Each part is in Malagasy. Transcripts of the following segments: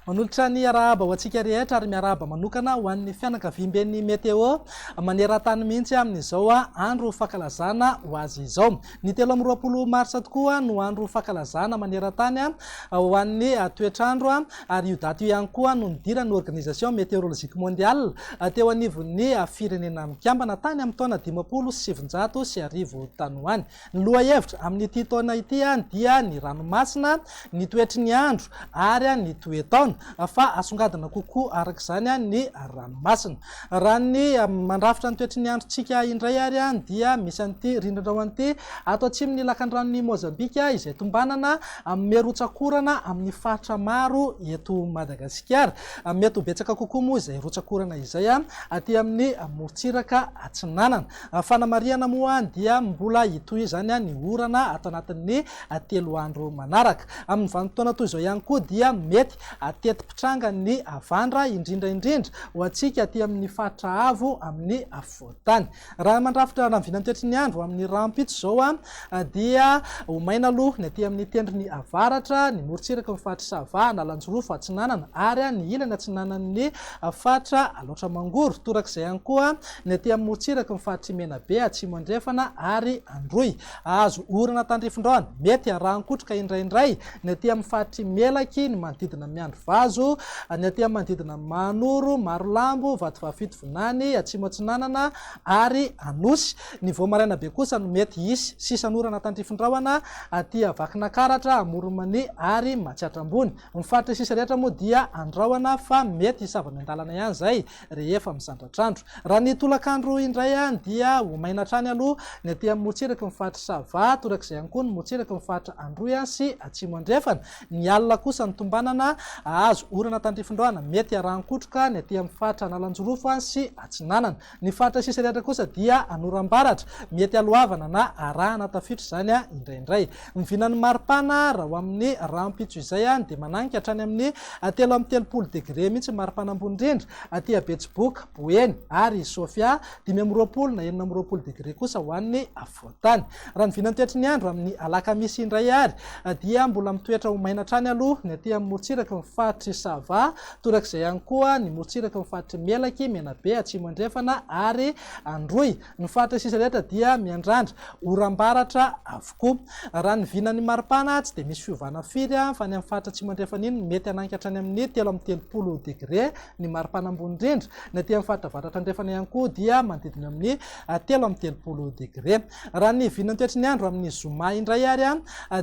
Manolotra ny arahaba ho antsika rehetra ary miarahaba manokana ho an'ny fianakaviamben'ny Météo maneran-tany mihitsy amin'izao andro fankalazana ho azy izao. Ny telo amby roapolo marsa tokoa no andro fankalazana maneran-tany ho an'ny toetr'andro ary io daty io ihany koa no nidiran'ny Organisation Meteorologique Mondiale teo anivon'ny Firenena Mikambana tany amin'ny taona dimampolo sy sivinjato sy arivo tany ho any. Ny lohahevitra amin'ity taona ity dia ny ranomasina, ny toetry ny andro ary ny toe-taona fa asongadina kokoa araka izany ny ranomasina. Raha ny mandrafitra ny toetry ny androntsika indray ary dia misy an'ity rindrina ao an'ity ato atsimon'ny lakandranon'i Mozambika izay tombanana amin'me rotsak'orana amin'ny faritra maro eto Madagasikara. Mety ho betsaka kokoa moa izay rotsak'orana izay aty amin'ny morontsiraka atsinanana. Fanamarihana moa dia mbola hitohy izany ny orana ato anatin'ny telo andro manaraka. Amin'ny vanim-potoana toy izao ihany koa dia mety Ateti-pitranga ny havandra, indrindra indrindra ho antsika aty amin' ny faritra avo amin' ny afovoan-tany. Raha mandrafitra ny vinantoetry ny andro amin' ny rahampitso izao dia ho maina aloha ny aty amin' ny tendrony avaratra, ny morontsiraky ny faritr' i Sava, Analanjirofo atsinanana ary ny ilany atsinanan' ny faritra Alaotra Mangoro, torak'izay ihany koa ny aty amin' ny morontsiraky ny faritr' i Menabe atsimo andrefana ary Androy. Azo orana tandrifin-drano, mety arahan-kotroka indraindray, ny aty amin'ny faritr'i Melaky, ny manodidina Miandrivazo, ny aty amin'ny manodidina Mahanoro, Marolambo, Vatovahafidy, Vinany, Atsimo Atsinanana ary Anosy. Ny vao maraina be kosa no mety hisy sisan'orana tandrifin-drahona aty Vakinankaratra, Amoron'Mania ary Matsiatra Ambony. Ny faritra sisa rehetra moa dia andrahona fa mety hisava miandalana ihany izay. rehefa mizandratr'andro. Raha ny tolakandro indray any dia ho maina hatrany aloha ny aty amin'ny motsiraky ny faritra Sava, torak'izay ihany koa ny motsiraky ny faritra Androy sy Atsimo Andrefana. Ny alina kosa ny tombanana hahazo orana tandrifindohana mety harahan-kotroka ny aty amin'ny faritra Analanjirofo sy Atsinanana. Ny faritra sisa rehetra kosa dia hanoram-baratra, mety haloavana na arahana tafiotra izany indraindray. Ny vinan'ny maripana raha ho amin'ny rahampitso izay dia mananika hatrany amin'ny telo amby telopolo degre mihitsy ny maripana ambony indrindra aty Betsiboka, Boeny ary Sofia, dimy amby roapolo na enina amby roapolo degre kosa ho an'ny afovoan-tany. Raha ny vinan'ny toetry ny andro amin'ny alakamisy indray ary dia mbola mitoetra ho maina hatrany aloha ny aty amin'ny morontsiraky ny faritr'i Sava, torak'izay ihany koa ny morontsiraky ny faritr'i Melaky, Menabe, Atsimo Andrefana ary Androy. Ny faritra sisa rehetra dia miandrandra oram-baratra avokoa. Raha ny vinan'ny maripana tsy dia misy fiovana firy fa ny amin'ny faritra atsimo andrefana iny mety hanangy hatrany amin'ny telo amby telopolo degre ny maripana ambony indrindra. Ny aty amin'ny faritra avaratra andrefana ihany koa dia manodidina amin'ny telo amby telopolo degre. Raha ny vinan'ny toetry ny andro amin'ny zoma indray ary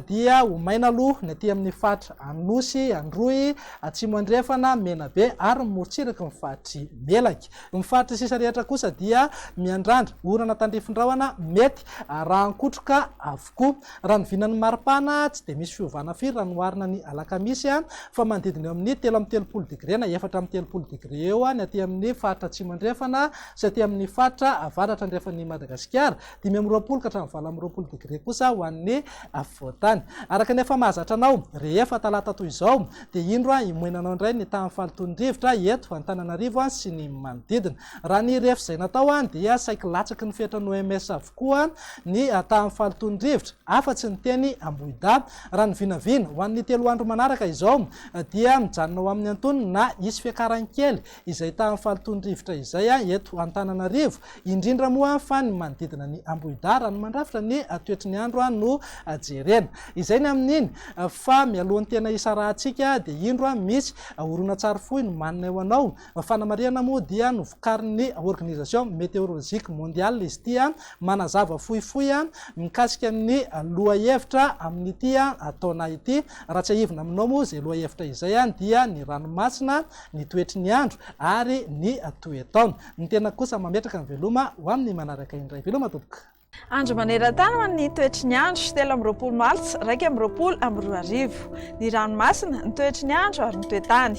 dia ho maina aloha ny aty amin'ny faritra Anosy, Androy, Atsimo Andrefana, Menabe ary ny morontsiraky ny faritry Melaky. Ny faritry ny sisa rehetra kosa dia miandrandra orana tandrifin-drahona mety arahan-kotroka avokoa. Raha ny vinan'ny maripana tsy dia misy fiovana firy raha noharina ny alakamisy fa manodidina eo amin'ny telo amby telopolo degre na efatra amby telopolo degre eo ny aty amin'ny faritra atsimo andrefana sy aty amin'ny faritra avaratra andrefan'i Madagasikara. dimy amby roapolo ka hatramin'ny valo amby roapolo degre kosa ho an'ny afovoan-tany. Araka ny efa mahazatra anao, rehefa talata toy izao dia indro himoenanao indray ny tahan'ny fahalotoan'ny rivotra eto Antananarivo sy ny manodidina. Raha ny refy izay natao dia saiky latsaky ny fetrany OMS avokoa ny tahan'ny fahalotoan'ny rivotra afa-tsy ny teny Ambohidahy. Raha ny vinavina ho an'ny telo andro manaraka izao dia mijanona ho amin'ny antonony na hisy fiakarany kely izay tahan'ny fahalotoan'ny rivotra izay eto Antananarivo, indrindra moa fa ny manodidina ny Ambohidara, ny mandrafitra ny toetry ny andro no jerena. Izay ny amin'iny fa mialohan'ny tena hisarahantsika dia indro misy horonantsary fohy nomaninay ho anao. Fanamarihana moa dia novokarin'ny Organisation Meteorologique Mondiale izy ity manazava fohifohy mikasika ny lohahevitra amin'ity taona ity. Raha tsiahivina aminao moa izay lohahevitra izay dia ny ranomasina ny toetry ny andro ary ny toe-taona. Ny tena kosa mametraka ny veloma ho amin'ny manaraka indray. Veloma tompoko. Andro maneran-tany ho an'ny toetry ny andro, telo amby roapolo martsa iraika amby roapolo amby roa arivo. Ny ranomasina, ny toetry ny andro ary ny toe-tany.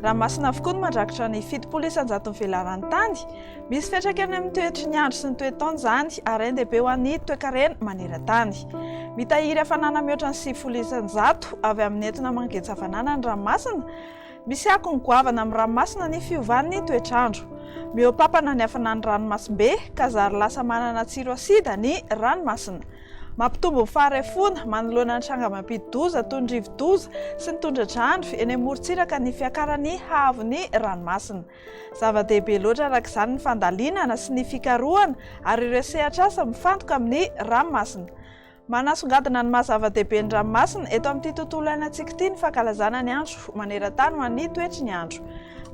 Ranomasina avokoa no mandrakotra ny fitopolo isan-jaton'ny velaran-tany. Misy fiantraikany amin'ny toetry ny andro sy ny toe-taona izany ary hain-dehibe ho an'ny toekarena maneran-tany. Mitahiry hafanana mihoatra ny sivifolo isan-jato avy amin'ny entona mangetsa hafanana ny ranomasina, Misy akony goavana amin'ny ranomasina ny fiovan'ny toetr'andro. Mihoa-pampana ny hafanan'ny ranomasimbe ka zary lasa manana tsiro asida ny ranomasina. Mampitombo ny faharefoana manoloana ny tranga mampidi-doza toy ny rivo-doza sy ny tondra-drano eny amorontsiraka ny fiakaran'ny haavon'ny ranomasina. Zava-dehibe loatra araka izany ny fandalinana sy ny fikarohana ary ireo sehatr'asa mifantoka amin'ny ranomasina. Manasongadina ny maha-zava-dehibe ny ranomasina eto amin'ity tontolo iainantsika ity ny fankalazana ny Andro manerantany ho an'ny toetry ny andro.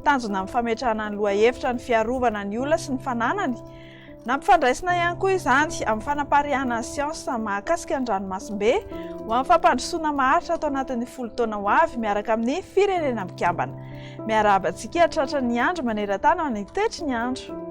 Tanjona amin'ny fametrahana ny lohahevitra ny fiarovana ny olona sy ny fananany. Nampifandraisina ihany koa izany amin'ny fanapariahana ny siansa mahakasika ny ranomasimbe ho amin'ny fampandrosoana maharitra ato anatin'ny folo taona ho avy miaraka amin'ny Firenena Mikambana. Miarahaba antsika hahatratra ny Andro manerantany ho an'ny toetry ny andro.